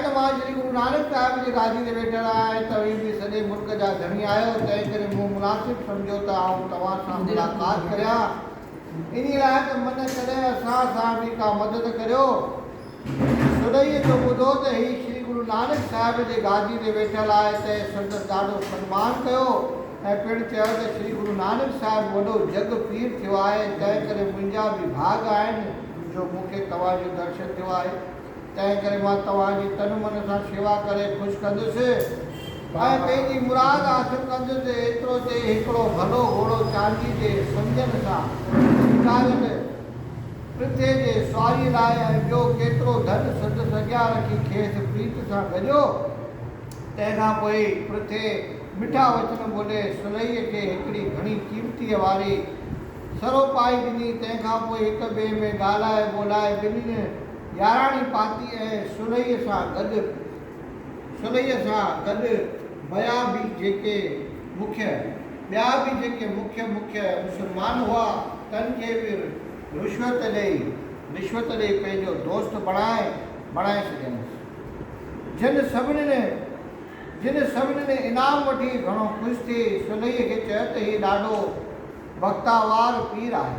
توهان شري گرو نانڪ صاحب جي گادي تي ويٺل آهيان ۽ توهين به سڄي ملڪ جا ڌڻي آهيو، تنهن ڪري مون مناسب سمجهيو ته آئون توهان سان ملاقات ڪريان، انهي لاء ته من ڪري اسان سان به ڪا مدد ڪريو. سرهيء جو ٻڌو ته هي شري گرو نانڪ صاحب جي گادي تي ويٺل آهي، تنهن سندس ڏاڍو سنمان ڪيو ۽ پڻ چيو ته شري گرو نانڪ صاحب وڏو جڳ پير ٿيو آهي، تنهن ڪري منهنجا به ڀاڳ آهن جو مون کي توهان جو درشن ٿيو آهي. تنهن ڪري مان توهان جي تن من سان شيوا ڪري خوش ڪندس ۽ پنهنجي مراد حاصل ڪندس، ايترو چئي هڪڙو ڀلو گهوڙو چاندي جي سنگين سان سينگاريل پرٿي جي سواريء لاء ۽ ٻيو ڪيترو ڌن سندس اڳيان رکي کيس پريت سان ڳنڍيو، تنهن کان پوء پرٿي مٺا وچن ٻولي سلهيء کي هڪڙي گهڻي قيمتيء واري سروپائي ڏني، تنهن کان پوء هڪ ٻئي ۾ ڳالهائي ٻولهائي ٻنهين. ياراڻي پاتي ۽ سلهيء سان گڏ سلهيء سان گڏ ٻيا به جيڪي مکيه ٻيا به جيڪي مکيه مکيه مسلمان هئا، تن کي به رشوت ڏئي رشوت ڏئي پنهنجو دوست بڻائي بڻائي ڇڏيائينس. جن سڀني جن سڀني انعام وٺي گهڻو خوش ٿي سلهيء کي چيو ته هي ڏاڍو بختاوار پير آهي.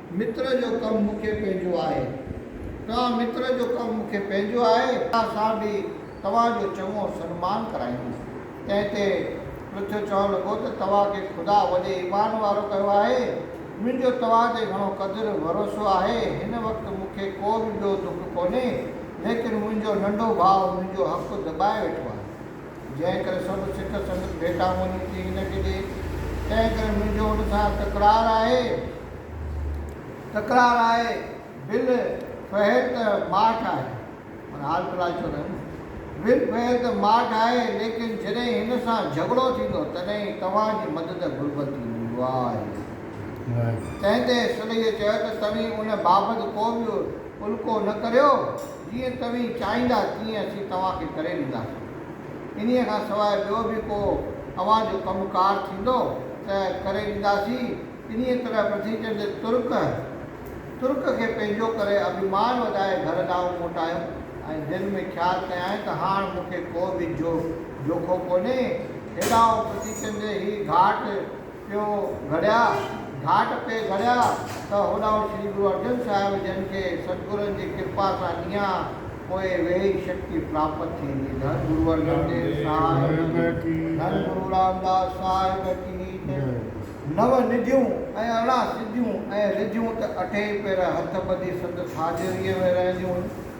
متر جو ڪم مون کي پنهنجو آهي. توهان متر جو ڪم مون کي پنهنجو آهي. توهان سان به توهان جو چڱو سنمان ڪرائيندس. تنهن تي پرٿيو چوڻ لڳو ته توهان کي خدا وڏي ايمان وارو ڪيو آهي. منهنجو توهان تي گهڻو قدر ڀروسو آهي. هن وقت مون کي ڪو به ٻيو دک ڪونهي، ليڪن منهنجو ننڍو ڀاء منهنجو حق دٻائي ويٺو آهي. جنهن ڪري سڀ سک سنگت ڀيٽا مونجهون ٿي هن کي ڏي، تنهن ڪري منهنجو هن سان تڪرار آهي، تڪرار آهي، بل فهر ته ماٺ آهي، معنيٰ حال في الحال چئو ٿا نه، بل فهر ته ماٺ آهي، ليڪن جڏهن هن سان جهڳڙو ٿيندو تڏهن ئي توهان جي مدد گهربل ٿيندي. واهه. تنهن تي سلييء چيو ته توهين ان بابت ڪو به الڪو نه ڪريو. جيئن توهين چاهيندا تيئن اسين توهان کي ڪري ڏينداسين. انهيء کان سواء ٻيو به ڪو اوهان جو ڪم ڪار ٿيندو ته ڪري ڏينداسين. انهيء طرح پرٿوي چند ترڪ ترڪ کي پنهنجو ڪري اڀيمان وڌائي گهر ڏانهن موٽايو ۽ دل ۾ خيال ڪيائين ته هاڻ مون کي ڪو به جو جوکو ڪونهي. هيڏانهن پرٿوي چند هي گهاٽ. پيو گهڙيا، گهاٽ تي گهڙيا ته هوڏانهن شري گرو ارجن صاحب جن کي ستگرن جي ڪرپا سان ڏينهان پوء ويهي شڪتي پراپت ٿيندي. ڌن گرو ارجن ديو صاحب ڪي ڌن گرو رامداس صاحب ڪي ته نو نڌيون ۽ ارڙهن سڌيون ۽ رڌيون ته اٺين پير هٿ ٻڌي سندس حاضريء ۾ رهنديون هيون.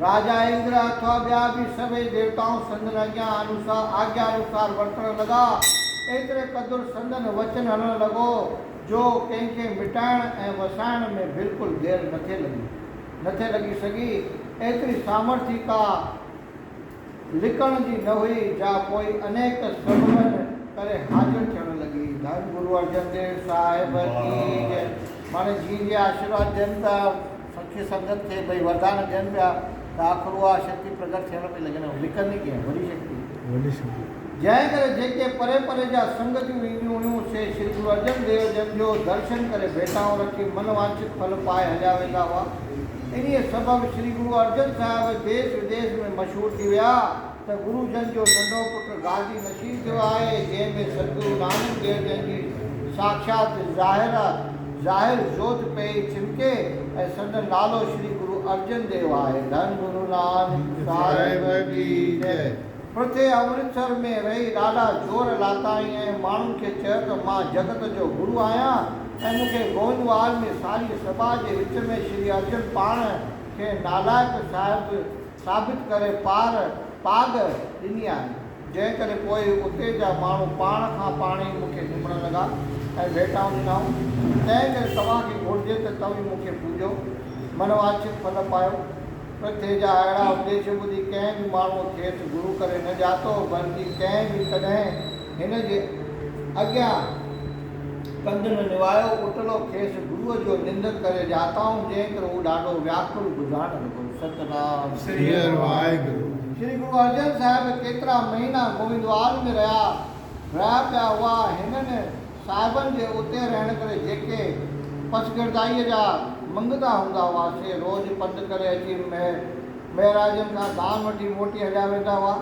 راجا اندر اٿوا ٻيا به سڀيئي ديوتائون سندن اڳيان انوسار آگيا انوسار ورتڻ لڳا. ايتري قدر سندن وچن هلڻ لڳو جو ڪنهن کي مٽائڻ ۽ وسائڻ ۾ بلڪل دير نٿي لڳي نٿي لڳي سگهي. ايتري سامرٿي ڪا لڪڻ جي نه هئي جا پوء انيڪ سببن ڪري حاضر ٿيڻ لڳي. ڌن گرو ارجن ديو صاحب ڪي جئي. ماڻي جيئن جيئن آشيرواد ڏين ته. سکي سنگت کي ٻئي وردان ڏين پيا ته آخر اها شڪتي پرگٽ ٿيڻ ۾ لڳندي ۽ لڪندي ڪيئن؟ وڏي شڪتي. جنهن ڪري جيڪي پري پري جا سنگتيون اينديون هيون، سي شري گرو ارجن ديو جن جو درشن ڪري ڀيٽائون رکي من وانڇت ڦل پائي هليا ويندا هئا. انهيء سبب شري گرو ارجن صاحب ديس وديس ۾ مشهور ٿي ويا. ته گرو جن جو ننڍو پٽ گاڏي نشين ٿيو آهي، جنهن ۾ سدگرو نانڪ ديو جن جي ساکيات ظاهر ظاهر جوت پئي چمڪي ۽ سندن نالو شري گرو ارجن ديو آهي. ڌن گرو نانڪ صاحب جي جئي. پرٿي امرتسر ۾ رهي ڏاڍا زور لاتائين ۽ ماڻهن کي چيو ته مان جڳت جو گرو آهيان ۽ مون کي گوئنڊوال ۾ ساريء سڀا جي وچ ۾ شري ارجن پاڻ کي نالائق صاحب ثابت ڪري پار پاڳ ڏني آهي، جنهن ڪري پوء اتي جا ماڻهو پاڻ کان پاڻ ئي مون کي چمڻ لڳا ۽ ڀيٽائون ڏنائون، تنهن ڪري توهان کي گهرجي ته توهين مون کي پوڄو، من واڇت ڦل پايو. پرٿويء جا اهڙا اپديش ٻڌي ڪنهن به ماڻهوء کيس گرو ڪري نه ڄاتو، بلڪ ڪنهن به ڪڏهن. هن جي اڳيان ڪنڌن نوايو اٽلو کيس گروء جو نندن ڪري ڄاتائون، جنهن ڪري هو ڏاڍو وياڪل ٻڌڻ لڳو. ستنام سري هر واحگرو. شري گرو ارجن صاحب ڪيترا مهينا گووندوال ۾ رهيا رهيا پيا هئا. هنن صاحبن جي اتي رهڻ ڪري جيڪي پسگردائيء جا منگتا هوندا هئا، سي روز پنڌ ڪري اچي مهراجن کان دان وٺي موٽي هليا ويندا هئا.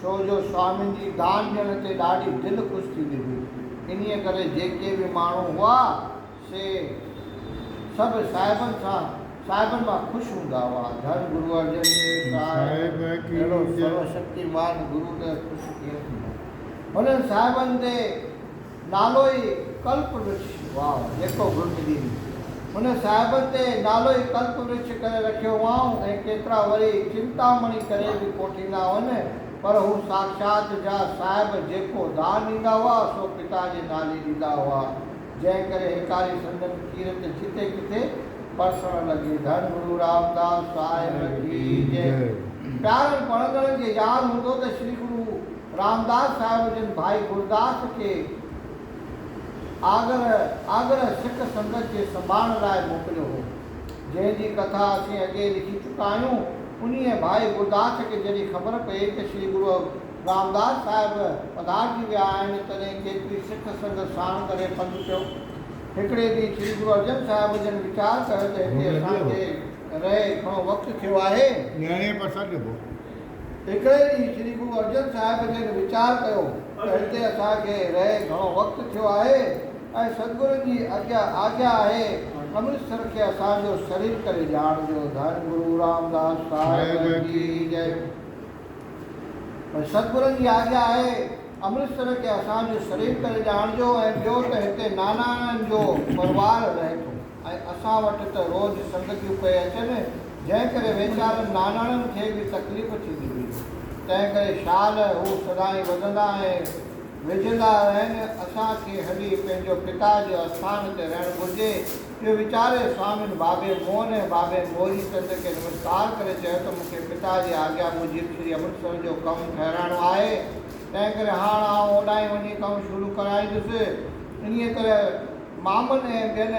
ڇو جو سوامين جي دان ڏيڻ تي ڏاڍي دل خوش ٿيندي هئي. انهيء ڪري جيڪي به ماڻهو هئا، سي سڀ صاحبن سان صاحبن مان خوش هوندا هئا. ڌڻ گرو ارجن ديو صاحب جهڙو سرو شڪتيمان گرو ته خوش ڪيئن ٿيندو. هنن صاحبن تي نالو ئي ڪلپ ورکش هئائون، جيڪو گهرج ڏينهن هن صاحبن تي نالو ئي ڪلپ ورکش ڪري رکيو هئائون ۽ ڪيترا وري چنتامڻي ڪري به ڪوٺيندا هئن، پر هو ساکشات جا صاحب جيڪو دان ڏيندا هئا، سو پتا جي نالي ڏيندا هئا، جنهن ڪري هيڪاري سندن ڪيرت جتي ڪٿي پرسڻ لڳي. ڌڻ گرو رامداس صاحب ڪي جئي. پيارن پڙهندڙن کي ياد هوندو ته شري گرو. رامداس صاحب جن ڀائي گورداس کي آگره آگره سک سنگت جي سنڀاڻ لاء موڪليو هو، جنهن جي ڪٿا اسين اڳي لکي چڪا آهيون. انهيء ڀائي گورداس کي جڏهن خبر پئي ته شري گرو رامداس صاحب پڌارجي ويا آهن، تڏهن کيتري سک سنگت ساڻ ڪري پنڌ پيو. هڪڙي ڏينهن شري گرو ارجن صاحب جن ويچار ڪيو ته هتي اسان کي رهي گهڻو وقت ٿيو آهي. نيڻي پر سڏ ڏبو. هڪڙي ڏينهن شري گرو ارجن صاحب جن ويچار ڪيو ته هتي اسان کي رهي گهڻو وقت ٿيو آهي ۽ سدگرن جي اڳيان آجيا آهي امرتسر کي اسان جو سرير ڪري ڄاڻ ڏيو ڌن گرو رامداس صاحب جي جئي سدگرن جي آجيا آهي امرتسر کي اسان جو سرير ڪري ڄاڻ ڏيو ۽ ٻيو ته هتي نانائڻن جو پروار رهي ٿو. ۽ اسان وٽ ته روز سنگتيون پئي اچن، جنهن ڪري ويچارن ناناڻن کي به تڪليف ٿيندي هئي. تنهن ڪري شال هو سدائين وڌندا ۽ وجهندا رهن. اسان کي هلي پنهنجو پتا جي آستان تي رهڻ گهرجي. اهو ويچاري سوامين بابي موهن ۽ بابين گوري چند کي نمسڪار ڪري چيو ته مون کي پتا جي آگيا موجب شري امرتسر جو ڪم ٺهرائڻو آهي، تنهن ڪري هاڻ آئون اوڏانهن وڃي ڪم شروع ڪرائيندس. انهيء طرح مامن ۽ ٻين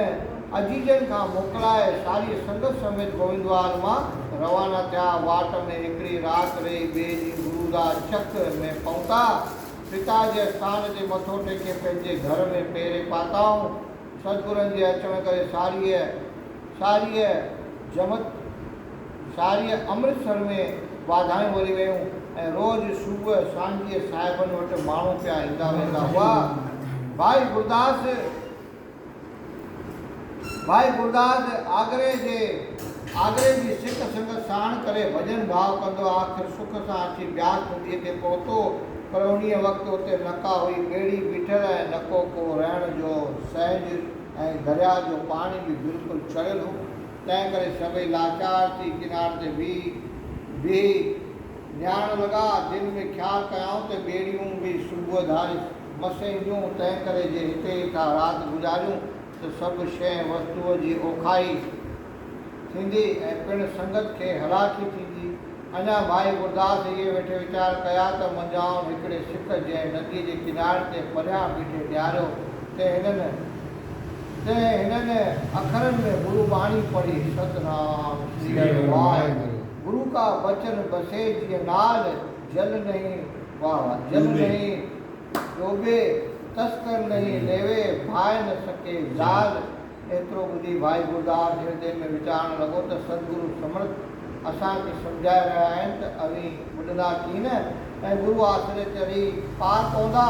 عزيزن کان موڪلائي ساري سنگت سميت گوئندوار مان روانا ٿيا. واٽ ۾ هڪڙي رات رهي ٻئي ڏينهن گرودا چڪ ۾ پهتا. پتا جي استان تي مٿو ٽيڪي پنهنجي گهر ۾ پيري پاتائون. سدگرن جي اچڻ ڪري ساريء شاعريء جمت، شاعريء امرتسر ۾ واڌايون وري ويون ۽ روز صبح سانجهيء صاحبن وٽ ماڻهو پيا ايندا ويندا هئا. ڀائي گرداس، ڀائي گرداس آگري جي آگري جي سک سنگت ساڻ ڪري ڀڄن ڀاء ڪندو آخر سک سان اچي بياس نديء تي پهتو پر انهيء وقت اتي نه ڪا هئي ٻيڙي بيٺل ۽ نه ڪو ڪو رهڻ جو سهنج ۽ درياهه جو پاڻي به بلڪل چڙيل هو، تنهن ڪري سڀئي لاچار ٿي ڪناري تي بيهي بيهي نهارڻ لڳا. دل ۾ خيال ڪيائون ته ٻيڙيون به صبح ڌاري مس اينديون، تنهن ڪري جي هتي ئي ٿا رات گذاريون ته سڀ شيء وستوء جي اوکاهي، ٿيندي ۽ پڻ سنگت کي هلاڪي ٿيندي. اڃا ڀائي گرداس اهي ويٺي ويچار ڪيا ته منجهائن هڪڙي سڪ جنهن نديء جي ڪناري تي پريان بيٺي نهاريو ته هنن تنهن هنن اکرن ۾ گرو باڻي پڙهي ست نام سري هر واهه گرو ڪا بچن بسي جيئن نال جل نهين واهه واهه جل نهين ڊوٻي تسڪر نهين ليوي ڀائي نه سڪي زال ايترو ٻڌي ڀائي گرداس هردي ۾ ويچارڻ لڳو ته سدگرو سمرٿ اسان کي سمجهائي رهيا آهن ته اوهين ٻڏندا ڪين نه ۽ گرو آسري چڙهي پار پوندا.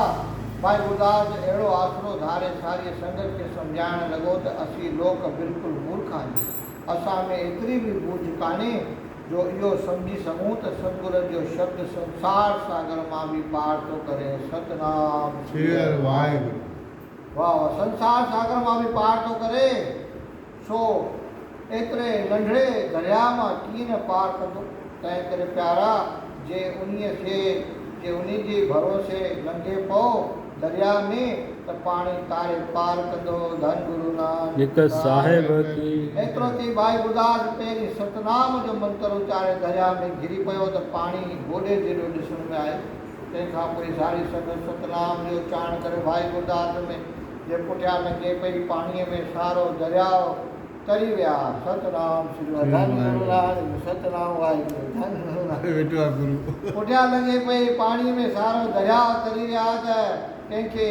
ڀائي گرداس جو اهڙو آسرو ڌاري ساريء سنگت کي سمجهائڻ لڳو ته اسين لوڪ بلڪل مورک آهيون. اسان ۾ ايتري به ٻوجهه ڪانهي جو اهو سمجهي سگهون ته سدگرن جو شبد سنسار ساگر مان به پار ٿو ڪري. ستنام سريهر واهي گرو. واهه واهه سنسار ساگر مان به پار ٿو ڪري سو ايتري ننڍڙي درياء مان ڪيئن نه پار ڪندو تنهن ڪري پيارا جي انهي سي جي انهي جي ڀروسي لنگهي پئو درياء ۾ ته پاڻي تاري پار ڪندو ڌن گرو نانڪ صاحب ڪي ايترو ڪي ڀائي ٻڌاس پهرين ستنام جو منتر اچاري درياء ۾ گري پيو ته پاڻي گوڏي جيڏو ڏسڻ ۾ آئي. تنهن کان پوء زاري سندس ستنام جو چاڻ ڪري ڀائي گرداس ۾ جي پٺيان لنگهي پئي پاڻيء ۾ سارو درياء تري ويا. ست نام شري ورڌن گرو لاڙ جو ست نام واحگرو ڌن گرو لاڙ جو ويٺو آ گرو. پٺيان لنگهي پئي پاڻيء ۾ سارو درياء تري ويا ته ڪنهن کي.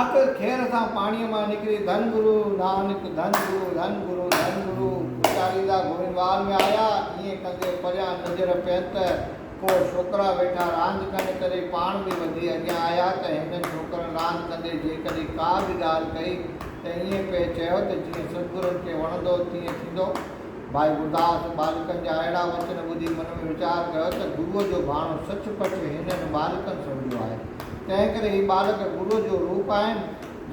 آخر کير اسان پاڻيء مان نڪري ڌن گرو نانڪ، ڌن گرو، ڌن گرو، ڌن گرو اچاريندا گوئنوال ۾ آيا. ائين ڪندي پريان نظر پين ته ڪو ڇوڪرا ويٺا راند ڪن ڪري پاڻ به وڌي اڳيان آيا ته هنن ڇوڪرن راند ڪندي جيڪڏهن ڪا به ڳالهه ڪئي ته ائين پئي چيو ته جيئن سرگرن کي وڻندو تيئن ٿيندو. ڀائي گرداس ٻالڪن جا اهڙا وچن ٻڌي من ۾ ويچار ڪيو ته گروء جو ڀاڻو سچ پچ هنن ٻالڪن سمجهيو آهي. تنهنڪري هي ٻالڪ گروء جو روپ آهن،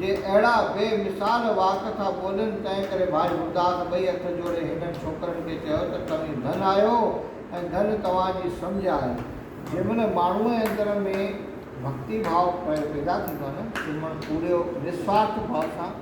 جي اهڙا بي مثال واڪ ٿا ٻولين، تنهنڪري ڀائي گرداس ٻئي هٿ جوڙي هنن ڇوڪرن کي چيو ته توهين ڌن آهيو ۽ ڌن توهان جي سمجهه آهي. جنهن مهل ماڻهوء جي اندر ۾ ڀڳتي ڀاء پيدا ٿيندو آهي نه، تنهن مهل پوريو نسوارٿ ڀاء سان.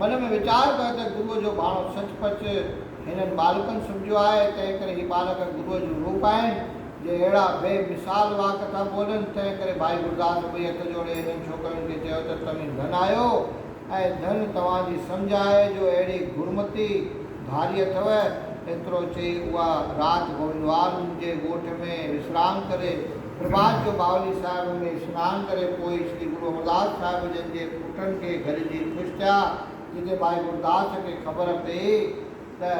من ۾ ويچار پيو ته گروء جو ڀاڻو سچ پچ هنن ٻالڪن سمجهيو آهي، تنهنڪري هي ٻالڪ گروء جون روپ آهن، جي اهڙا بي مثال واڪ ٿا ٻولن، تنهنڪري ڀائي گرداس ٻئي هٿ جوڙي هنن ڇوڪرن کي چيو ته توهين ڌن آهيو ۽ ڌن توهان جي سمجهه آهي جو اهڙي گرمتي ڌاري اٿو، ايترو چئي اها رات گوبندوال منهنجي ڳوٺ ۾ وسرام ڪري نماز جو ماحول صاحب ۾ سنان ڪري پوء شري گرو امرداس صاحب جن جي پٽن کي گهرجي خوش ٿيا جتي ڀائي گروداس کي خبر پئي ته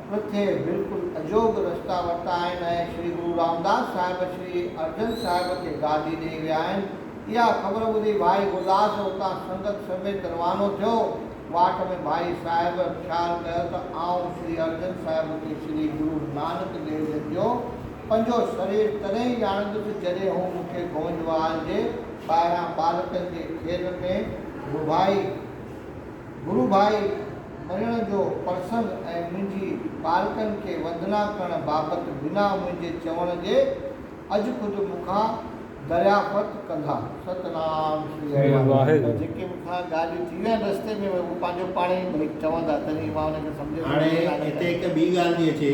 پرٿي بلڪل اجوڳ رستا ورتا آهن ۽ شري گرو رامداس صاحب شري ارجن صاحب کي گادي ڏئي ويا آهن اها خبر ٻڌي ڀائي گروداس اتان سنگت سميت روانو ٿيو واٽ ۾ ڀائي صاحب خيال ڪيو ته آئون شري ارجن صاحب کي شري گرو نانڪ ديو جن جو پنهنجو سرير تڏهن ئي ڄاڻندس جڏهن هو مون کي گونجوال جي ٻاهران ٻالڪن جي کيل ۾ گروڀائي گروڀائي مڃڻ جو پرسنگ ۽ منهنجي ٻالڪن کي وندنا ڪرڻ بابت بنا منهنجي چوڻ جي اڄ خود مون کان دريافت ڪندا. ستنام شري هر واهگرو پر جيڪي مون کان ڳالهيون ٿي ويا آهن رستي ۾ اهي هو پنهنجو پاڻ ئي چوندا تڏهن ئي مان انهن کي سمجهه ۾ هاڻي هتي هڪ ٻي ڳالهه ٿي اچي.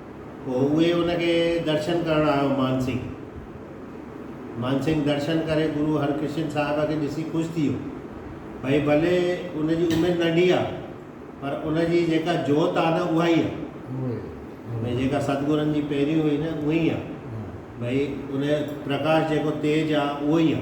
پوء اهي ان کي درشن ڪرڻ آيو مانسنگ مانسنگ درشن ڪري گرو هرڪرشن صاحب کي ڏسي خوش ٿي ويو ڀئي ڀلي ان جي عمر ننڍي آ پر ان جي جيڪا جوت آ نه اها ئي آ ڀئي جيڪا ستگرن جي پهريون هئي نه اهي ئي آ ڀئي ان پرڪاش جيڪو تيج آ اهو ئي آ.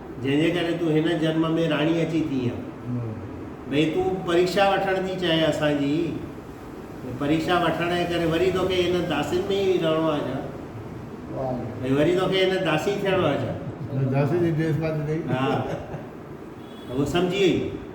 جنهن جي ڪري تون هن جنم ۾ راڻي اچي ٿيئي ها. ڀئي تون پريڪشا وٺڻ ٿي چاهين اسان جي؟ ڀئي پريڪشا وٺڻ جي ڪري وري توکي هن داسين ۾ ئي رهڻو آهي ڇا؟ ڀئي وري توکي هن داسي ٿيڻو آهي ڇا؟ ها، هوء سمجهي وئي.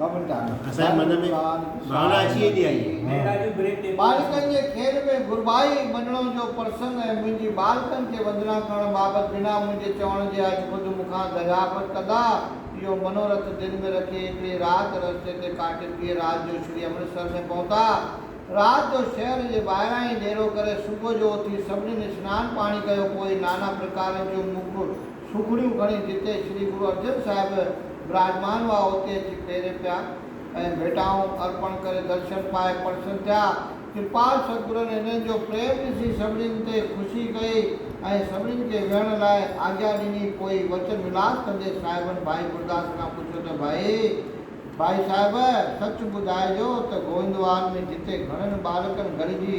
اسان جي من ۾ ڀاونا اچي ويندي آهي. ٻالڪن جي کيل ۾ گربائي مڏڻو جو پرسنگ ۽ منهنجي ٻالڪن کي وندنا ڪرڻ بابت بنا منهنجي چوڻ جي اڄ خود مون کان دريافت ڪندا. اهو منورٿ دل ۾ رکي هڪڙي رات رستي تي ڪاٽي ٻيء رات جو شري امرتسر ۾ پهتا. رات جو شهر جي ٻاهران ئي ڏيرو ڪري صبح جو اٿي سڀنين سنان پاڻي ڪيو پوء نانا پرڪارن جون موڪ سوگهڙيون کڻي جتي شري گرو ارجن صاحب وراجمان هئا اتي اچي پيرين پيا ۽ ڀيٽائون ارپڻ ڪري درشن پائي پرسن ٿيا. ڪرپال ستگرن هنن جو پريم ڏسي سڀنين تي خوشي ڪئي ۽ سڀنين کي ويهڻ لاء آجيا ڏني پوء وچن ولاس ڪندي صاحبن ڀائي گرداس کان پڇيو ته ڀائي ڀائي صاحب سچ ٻڌائجو ته گوئندوال ۾ جتي گهڻن ٻالڪن گڏجي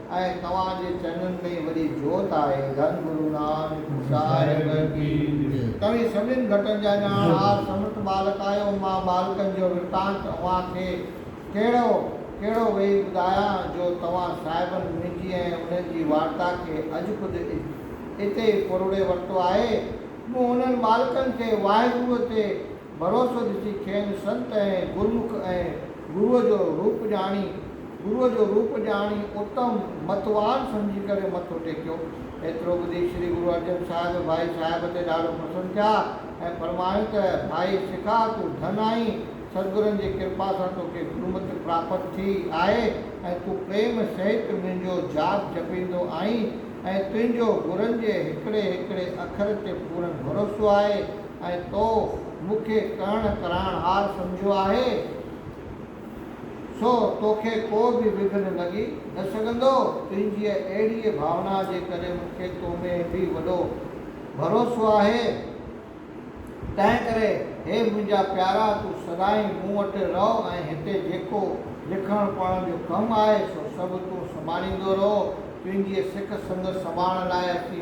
۽ توهان جي چنن ۾ وڏي جوت آهي ڌن گرو نانڪ صاحب ڪي جي. توهين سڀنين ڀٽن جا ڄاڻ هار سمرٿ ٻالڪ آهيو مان ٻالڪن جو ورتانت اوهان کي ڪهڙو ڪهڙو ويهي ٻڌايان جو توهان صاحبن منهنجي ۽ انهن جي وارتا کي اڄ خود اتي ئي پروڙي ورتو آهي مون انهن ٻالڪن کي واهگروء تي ڀروسو ڏسي کين سنت ۽ گرمک ۽ گروء جو روپ ڄاڻي، گروء جو روپ ڄاڻي اتم متوان سمجهي ڪري مٿو ٽيڪيو. ايترو ٻڌي شري گرو ارجن صاحب ڀائي صاحب تي ڏاڍو پسند ٿيا ۽ فرمايون ته ڀائي سکا تون ڌن آهين، سدگرن جي ڪرپا سان توکي گرمتي پراپت ٿي آهي ۽ تون پريم سهت منهنجو جاپ جپيندو آهين ۽ تنهنجو گرن جي هڪڙي هڪڙي اکر تي پورن ڀروسو آهي. ۽ تو مون کي ڪرڻ ڪرائڻ هار سمجهيو آهي، سو توکي ڪو به وگهن لڳي نه سگهندو. تنهنجيء اهڙيء ڀاونا جي ڪري مون کي تو ۾ به وڏو ڀروسو آهي. تنهنڪري هي منهنجا پيارا، تون سدائين مون وٽ رهه ۽ هتي جيڪو لکڻ پڙهڻ جو ڪم آهي، سو سڀ تون سنڀاليندو رهو. تنهنجيء سک سنگت سنڀالڻ لاء اچي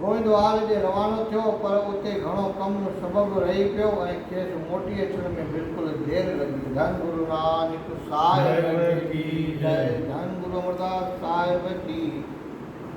گوئندوال ڏي روانو ٿيو پر اتي گهڻو ڪم سبب رهي پيو ۽ کيس موٽي اچڻ ۾ بلڪل دير لڳي وئي. ڌن گرو نانڪ صاحب جي جئي ڌن گرو امرداس صاحب جي.